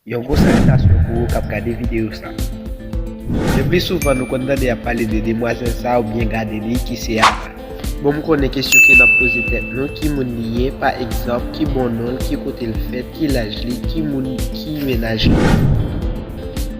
Yon gwo salitasyon pou ou kap gade videyo sa. Le pli souvan nou konn tande yap pale de demwazel sa ou byen gade li ki se a la. Bon m konnen kesyon ke nap poze tèt nou ki moun li ye pa egzanp ki bon nonl ki kotel fèt ki laj li ki moun ki menaj li.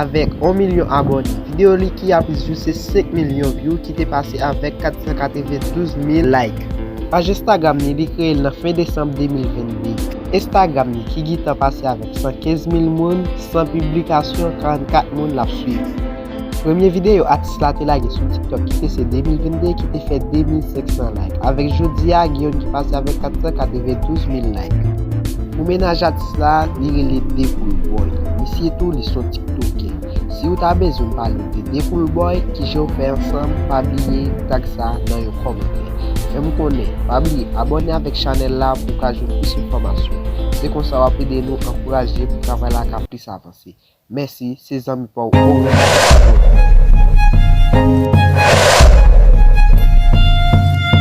Avèk 1 milyon abòne, videyo li ki ap jouse 5 milyon vyou ki te pase avèk 492 mil like. Paj Instagram li, li kreye l nan fen desanm 2022. Instagram li ki gitan pase avèk 115 mil moun, 100 piblikasyon, 44 moun l ap swiv. Premye videyo atis. Atis la te lage sou TikTok ki te se 2022 ki te fè 2.500 like. Avèk jodi a, gen youn ki pase avèk 492 mil like. Pou mennaj atis la, li rele Decoolboy. Misye tou, li son tiktokè. Si ou ta bezwen m pale de Decoolboy, kijan ou fè ansanm, pa bliye tag sa nan yon kòmantè. Fè m konnen. Pa bliye abòne avèk chanèl la pou w ka jwenn plis enfòmasyon. Se konsa w ap ede nou ankouraje pou travay la ka plis avanse. Mèsi se zanmi paw ou renmen sa bro.